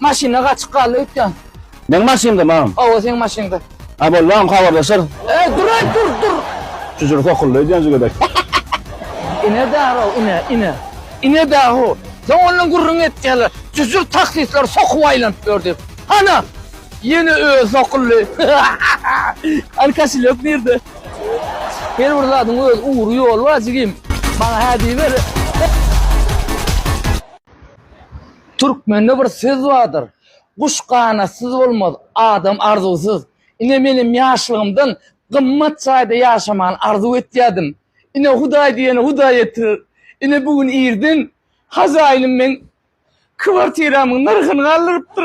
Maşyna gaçyk galdy öýtýän. Meň maşynda mam. Hawa seň maşynda. A bol mam habarlaşarys. Eý dur eý dur dur. Çüjür sokuldy öýdýän jigedek. Ine daro ine ine. Ine daho. Soň ondan gürrüň etýärler. Çüjür taksistler sokup aýlanyp ýör diýip. Hana! Ýene özi sokuldy. Hany kaşelýok nirde? Her bir zadyň öz ugry ýoly bar jigim. Maňa hä diýiber. Türkmende bir söz bardyr, Guş ganatsyz bolmaz, adam arzuwsyz. Ine menem ýaşlygymdan gymmat jaýda ýaşamany arzuw etýärdim. Ine Hudaý diýeni Hudaý etirer. Ine bu gün irden hazaýynym meň kwartiramyň nyrhyny galdyrypdyr.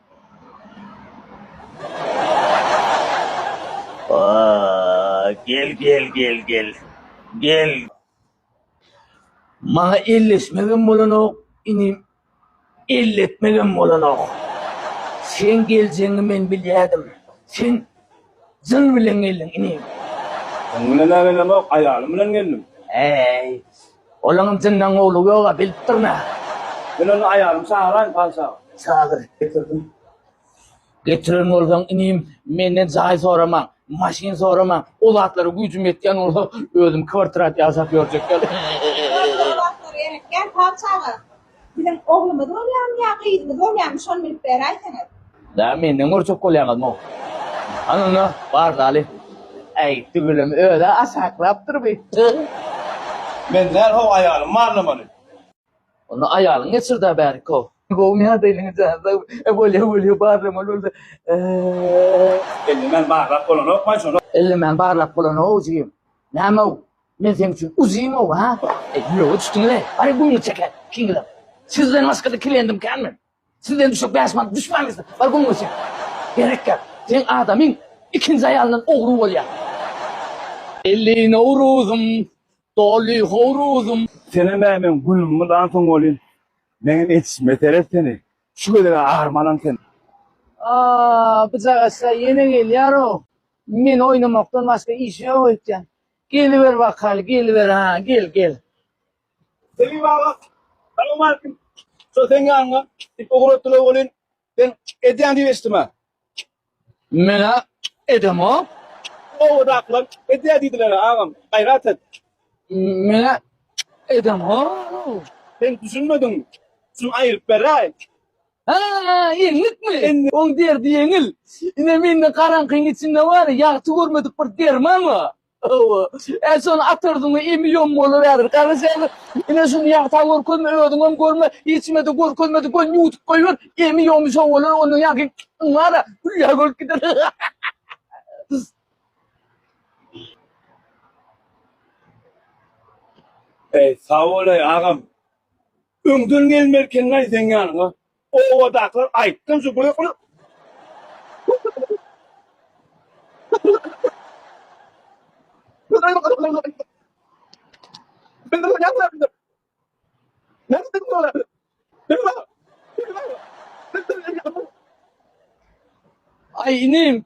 Gel gel gel gel gel. Maňa elleşmegem bolanok, inim elletmegem bolanok. Seň geljegiňi men bilýädim. Sen jyn bilen geldiň, inim. Jyn bilen-ä gelemok, aýalym bilen geldim. Äý, Olaňam jyndan gowlugy ýog-a, bilip durun hä. Men onda aýalymy çagyraýyn, patyşa. Çagyr, getirdim. Getiren bolsaň, inim, menden jaý sorama, maşyn sorama, o zatlara güýjüm ýetýän bolsa, özüm kwartirada ýaşap ýörjek. Ýöne o zatlara gerekýär, patyşa aga. Biziň oglumyz bolýamy ýa gyzymyz bolýamy şony bilip beräýseňiz. Dä menden görjek bolýaňyzmy? Hany onda bar daly. Äý tüweleme özä aşaklapdyr bi. Men däl how aýalym barlamaly. Onda aýalyň geçirdä bärik how. Gowymy ýagdaýyňyz janyza e bolýa bolýa barlamaly bolsa e. Ellemän barlap bolanokmaý şony. Ellemän barlap bolanok jigim. Näme how Men seň üçin uzymow ha. Ýüregiňe düşdüňize. Hany gümüni çekäý. Kiňiläp. Sizden başga-da kliendim kän men. Sizden düşek bäş manat düşmän gitse. Bar gümüňi çek. Gerek ýok. Seň adamyň ikinji aýalyndan ogry bolýar. Elli Nowruzym, doly howruzym. Senem bäý meň gülümi lan soň bolýyn. Meňem etişime seret seni. Şu gezeg-ä armanam sen. Aaa, byjagaçlar ýene gelýär-ow. Men oýnamakdan başga işi ýok öýtýän. Geliber bakal geliber ha gel gel. Selim baba, salam aleyküm. Şo sen ýanyňa dik ugratdylar welin, sen edýän diýip eşitdim-ä. Men-ä edemok. Obadakylar edýär diýdiler-ä agam, gaýrat et. Men-ä edemok. Sen düşünmediň. Şuny aýryp beräý. Haa, enlikmi? Indi oň derdi ýeňil. Ine, mende garaňkyň içinde bary ýagty görmedik bir derman bar. Hawa, e, şony atardyň-da, emi ýom boluberer. Garaş häzir, ine, şuny ýagta görkezme, özüňem görme, hiç-kime-de görkezmedik bolsun, ýuwudyp goýber, emi ýomy şo bolar, ondan ýaňky yň bar-a, hülýä bolup gider. Eý, sag bolaý, agam. Öňden gelmelikenlaý seň ýanyňa. Obadakylar aýtdym şu göýä gulak. Aý inim.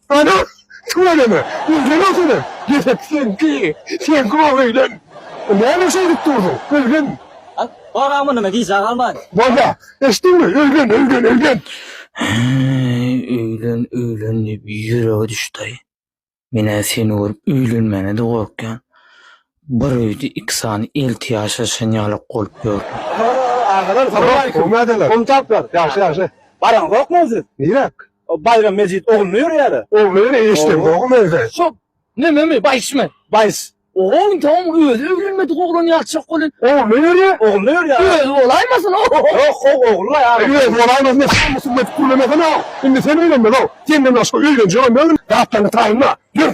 Ana, tüweleme, özüne ötüne, ýesek seňki, seňki bolup öýlen. Näme şeýdip durdyň, öýlen! Bolam munymy, gijä galman. Bolýa, eşitdiňmi, öýlen, öýlen, öýlen! Häý, öýlen, öýlen diýip ýüregi düşdäý. Men-ä seni görüp öýlenmäne-de gorkýan. Bir öýde iki sany elti ýaşaşan ýalak bolup ýörler. Agalar salowmaleýkim. Nädeler? Goňşy taplar. Ýagşy ýagşy. Baraňzokmy siz? Nirek? Baýram mejit ogluna ýörýärä. Ogluna ýörýär eşidem ýogum öýde. Şo Mememi baýyşmy? Baýys. Oho ynta oň özi öwrenmedik oglan ýalyçak bolýa. Ogluna ýörýä? Ogluna ýörýär. Özi bolaýmasyn o? Ýok hov ogly a. Özi bolaýmasyn diýip hamysyny edip gürlemesene o. Indi sen öýlenmeli o. Senden başga öýlenjegem ýok indi. Zatlaryňy taýynla. Ýör.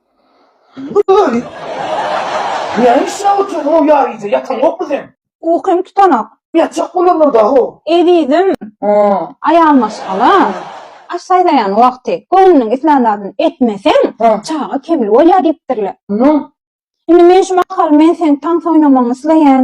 Gülgün! Näme üçin-ä otyr gowy ýaryja, ýataňokmy sen? Ukym tutanok. Ýatjak bolarlar da-how. Ezizim! Aýal maşgala, aş saýlaýan wagty göwnüniň islän zadyny etmeseň, çaga kemli bolýar diýipdirler. Indi men şu mahaly men seň tans oýnamagyňy isleýän.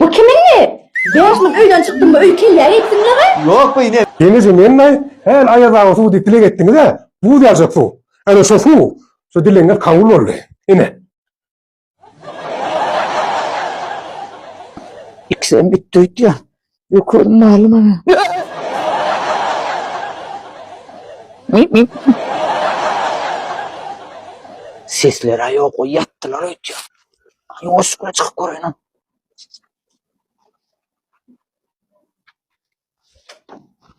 Bu kimiňi? Bäş müň öýden çykdymmy öý kellä etdiňleoy. Ýok bu ine. Ýene sen mennaý häl aýaz awa suw diýip dileg etdiňizä, buz ýaljak suw. Ana şo suw, şo dilegiňiz kabul boldy. Ine. Ikisem üýtdüýt ýa. Ýokaryn maly maňa. Sesler-ä ýok, o ýatdylar öýtýär. Ýuwaşjykly çykyp göräýin.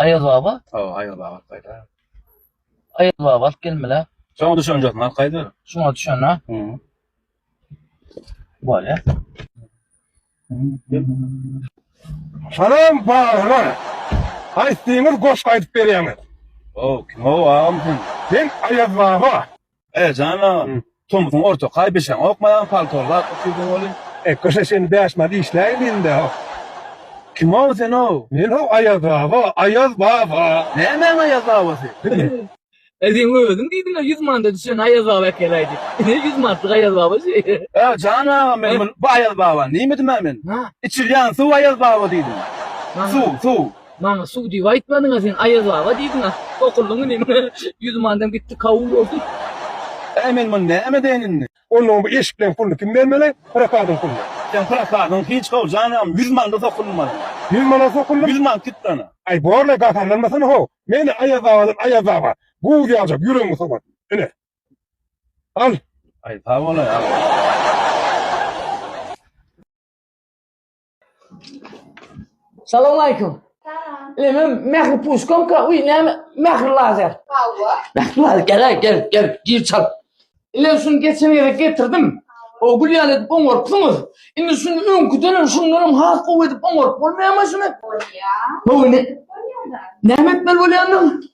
Aýaz baba. Sag ol Aýaz baba gaýda. Aýaz baba alyp gelmela. Şoňa düşünjek mal gaýda. Şoňa düşünä. Hum. Bolýa. Salam bagrylar. Aýtdyňyz goşgy aýdyp berýäňiz. Ow kim ow agam sen. Sen Aýaz baba. Aýajan agam, tomusyň ortakaý bişeň okmaýan paltony zat ukydyň welin. Ekgeşe sen bäş maly işläýin indi ha. Kimow senow? Menow Aýaz baba, Aýaz baba. Nämäň Aýaz babasy? E seň özüň diýdiňä ýüz mandaty şony Aýaz baba äkeläý diýip. Ine ýüz manatlyk Aýaz baba şu. Aýajan agam men muny bu Aýaz babany diýmedim-ä men. Hä? Içilýän suw Aýaz baba diýdim. Suw, suw. Maňa suw diýip aýtmadyňa sen Aýaz baba diýdiňa sokuldyň indi maňa ýüzüm andam gitdi kawul boldy. Äý men muny näme edeýin indi. Onda bu eşikleň puluny kim bermeli prokadyň puluny. Sen prokadyň hiç how janam ýüz manada sokuldym maňa. Ýüz manada sokuldym. Ýüz mant gitdi ana. Aý borle gaharlanmasana how meni Aýaz babadan Aýaz baba buz ýaljak ýüregiňi sowadym ine al. Aý sag bolaý aga. Salam aleyküm. Salam. Leme mehri puşkom ka uy ne mehri lazer. Hawa. Mehri lazer gel gel gel gir çal. Ile şun geçen yere getirdim. O gül yalı edip oňorpsunuz. Indi şun öňkü dönem şundan hem has gowy edip oňorp bolmaýa maşyny. Bolýa. Hawa ne? Bolýa da. Näme etmeli bolýandyň?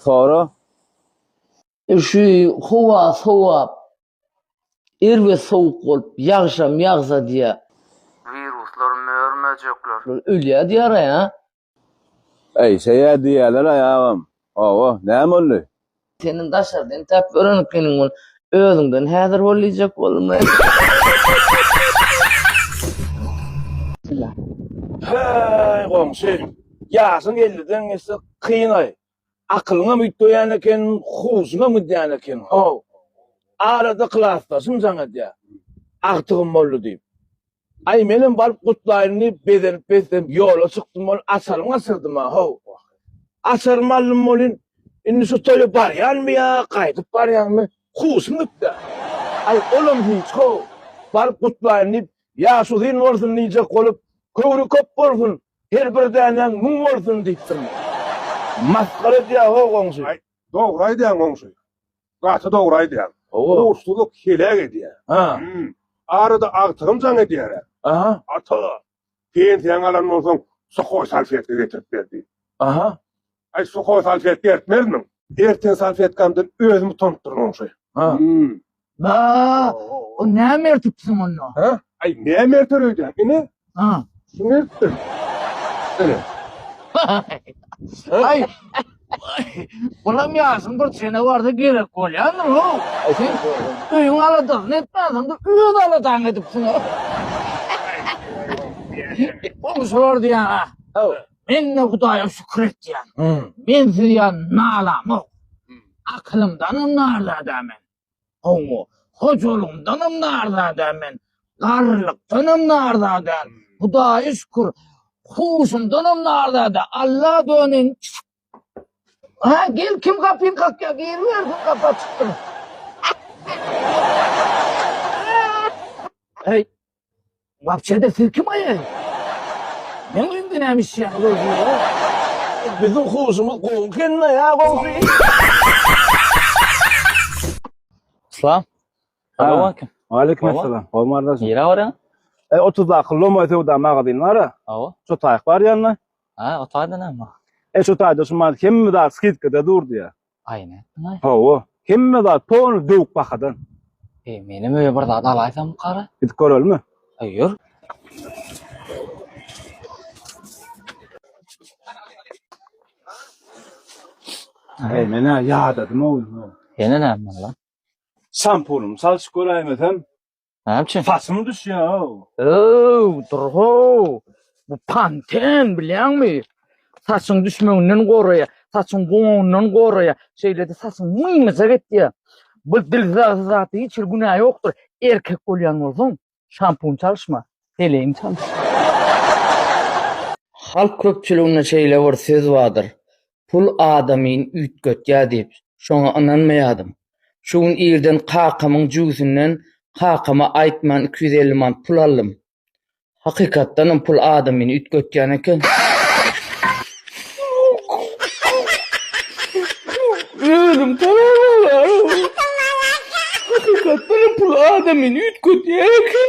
Sora. Şu howa sowap, erbet sowuk bolup, ýagşam ýagsa diýýä. Wiruslar, mör-möjekler. Ölýä diýýär-aý, a. Äýşeýä diýýäler-aý agam. Hawa, näme boldy? Seniň daşardan täp ören ekeniň ol. Özüňden häzir bol diýjek boldumy? Häý, goňşy, ýaşyň elliden geçse, Kynaý. Akylyňam üýtgeýän eken, huşuňam gidýän eken, how. Arada klasdaşym jaň edýär. Agtygym boldy diýip. Aý, menem baryp gutlaýyn diýip, bezenip-besenip ýola çykdym ol açarymy açyrdym-a, how. Açarymy aldym welin, indi şu toýa barýanmy ýa gaýdyp barýanmy, huşum gitdi-ä. Aý, olam hiç, how. Baryp gutlaýyn diýip, ýaşuzyn bolsun diýjek bolup, köwri köp bolsun, Her bir dänäň müň bolsun diýipdirler. Masgara edýä ho goňşy. Aý, dogry aýdýaň goňşy. Gaty dogry aýdýaň. Hawa. Ursuzlyk heläk edýä. Ha. Hum. Arada agtygym jaň edýär-ä. Aha. Ata, pensiýaňy alandan soň suhoý salfetka getirip ber diýip. Aha. Aý suhoý salfetka ertmezmiň? Erten salfetkamdan özüm utanypdyryn oňşy. Ha. Ba, o näme ertipsiň onda? Ha? Aý näme erter öýdäň? Ine, Ha. şuny ertdim. Ine. Aý. Bulam ýaşyň bir çene barda gerek bolýandyr o. Aý sen öýüň aladasyny etmänsiň-de, öz aladaňy edipsiň. Oňşy bar diýýäň-a. Hawa. Men de Hudaýa şükür etýän. Men siz ýan nalamok. Akylymdanam narda däl men. Hawa, hojalygymdanam narda däl men. Garrylykdanam narda däl. Hudaýa şükür, huşumdanam narda däl. Alla döneýin. Ha, gel kim gapyny kakýar, giribersin gapy açykdyr. Heý, Wapçede siz kim aýaý? Men öýümde näme işleýän bu özüne? Biziň huşumyz gowy ekeni-da ýa goňşy. Salam. Salamaleýkum. Waleýkim assalam. Howma gardaşym. Nirä barýaň? E 30-daky Lomoý söwda magazyn bar-a. Hawa. Şo taýak bar ýanyna. Ha, o taýda näme? E şo taýda şu maňa hemme zat skidkada durdy ýa. Aýna etdiňaý. Hawa, hemme zat poly döwük bahadan. Eý, menem öýe bir zat alaýsam kara? Gidip görelimi? Aý, ýör. Eý, men-ä ýadadym-ow indi. Ýene näme boldy? Şampunymy çalşyp göräýmesem, Näme üçin? Saçym düşýär. Öw, durho. Bu panten bilýäňmi? Saçyň düşmeginden goraýa, saçyň goňundan goraýa, şeýle-de saçyň mymyjak etýär. Bu dilzar zady hiç bir günä ýokdur. Erkek bolýan bolsaň, şampun çalyşma, heleýiň çalyş. Halk köpçüliginde şeýle bir söz bardyr. Pul adamyny üýtgetýär diýip, şoňa ynanmaýardym. Şu gün irden kakamyň jübüsinden kakama aýtman iki ýüz elli manat pul aldym. Hakykatdanam pul adamyny üýtgetýän eken. Özüm tanamaýaryn. Hakykatdanam pul adamyny üýtgetýän eken.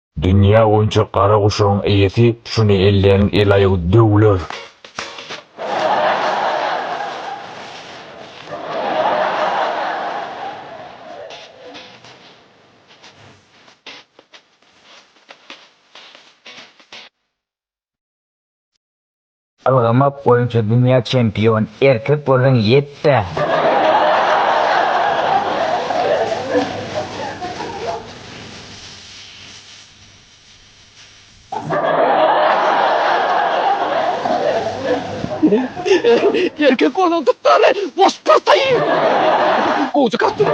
Dünýä boýunça gara guşagyň eýesi şuny elleýäniň el-aýagy döwler. Ylgamak boýunça dünýä çempion erkek bolsaň ýetdä. Erkek bolsaň tut däli boş pyrsa iý. Gowja kartony.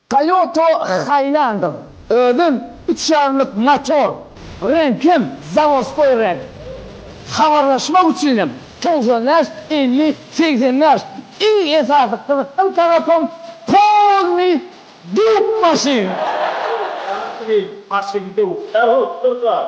Toyota Highlander, özem üç ýarymlyk motor, reňkem zawodskoý reňk. Habarlaşmak üçinem togsan bäş elli segsen bäş, iň esasy gyzykly tarapym polnyý döwük maşyn. Maşyn döwük, ähli bir zat.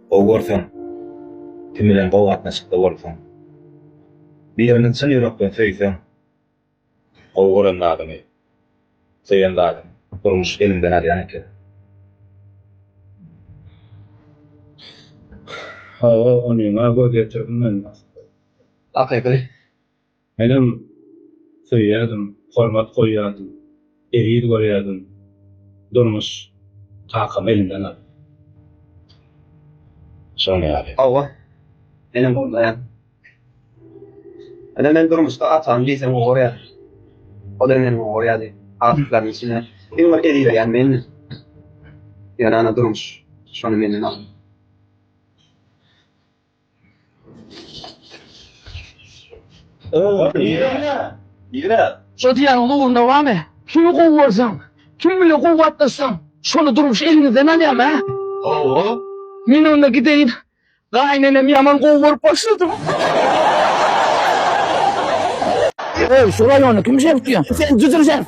Gowy görseň, kim bilen gowy gatnaşykda bolsaň, birini çyn ýürekden söýseň, gowy gören zadyňy, söýen zadyňy durmuş eliňden alýan eken. Hawa, onyň-a göz ýetirdim men, Maksat. Hakyky. Menem söýýärdim, hormat goýýardym, eziz görýärdim. Durmuş kakamy elimden aldy. Şonuň ýaly. Hawa, menem horlaýan. Ine, men durmuşda atamy diýseň gowy görýän. Ol hem meni gowy görýärdi. Aşyklaryň içinde iň bir ezizleýän mendim. Ýöne, ana, durmuş şony menden aldy. Şo diýýäniň ugruna bamy? Kimi gowy görseň, kim bilen kuwwatlaşsaň, şony durmuş eliňizden alýamy, hä? Hawa. Men onda gideýin. Gaýynenemi ýaman gowy görüp başladym. Öý, şu raýony kim şerp diýýär? Sen jyjyr şerp.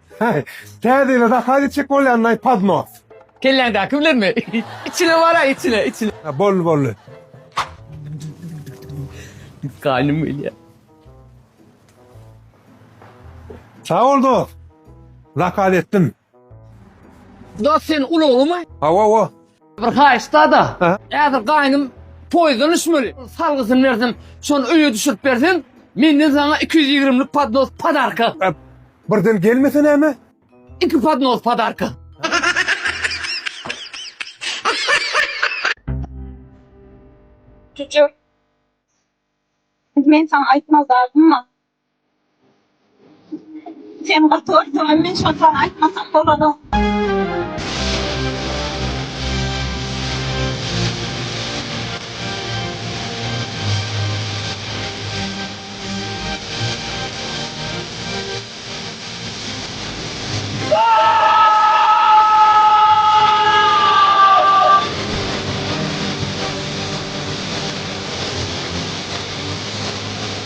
Heý, täze ýyla zakaz etjek bolýanlaý podnos. Kelläňdäki bilenmi? Içine bar-a, içine, içine. Ha, boldy, boldy. Gaýnym gelýär. Sag bol dost. Zakaz etdim. Dost sen ulaglymy? Hawa, hawa. Bir haýyş dada. Häzir gaýnym poýdan düşmeli. Salgysyny bersem, şony öýe düşürip berseň, menden saňa iki ýüz ýigrimlik podnos podarka. Birden gelmese näme? Iki podnos podarka. Jüjü. Men saňa aýtmazlardymmy? Sen gyrtylyrsyňam men şony saňa aýtmasam bolanok.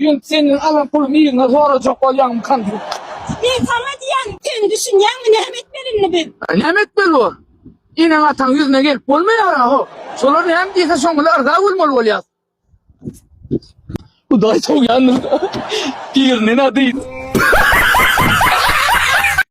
Ýöne senden alan pulumy yzyna sorajak bolýaňmykan diýip. Men saňa diýýän, sen düşünýäňmi näme etmeli indi biz? Näme etmeli bor? Eneň-ataň ýüzüne gelip bolmaýar-a-how. Şolar näme diýse şoň bilen yrza bolmaly bolýas. Hudaý sowýandyr-da, birinden-ä dyn.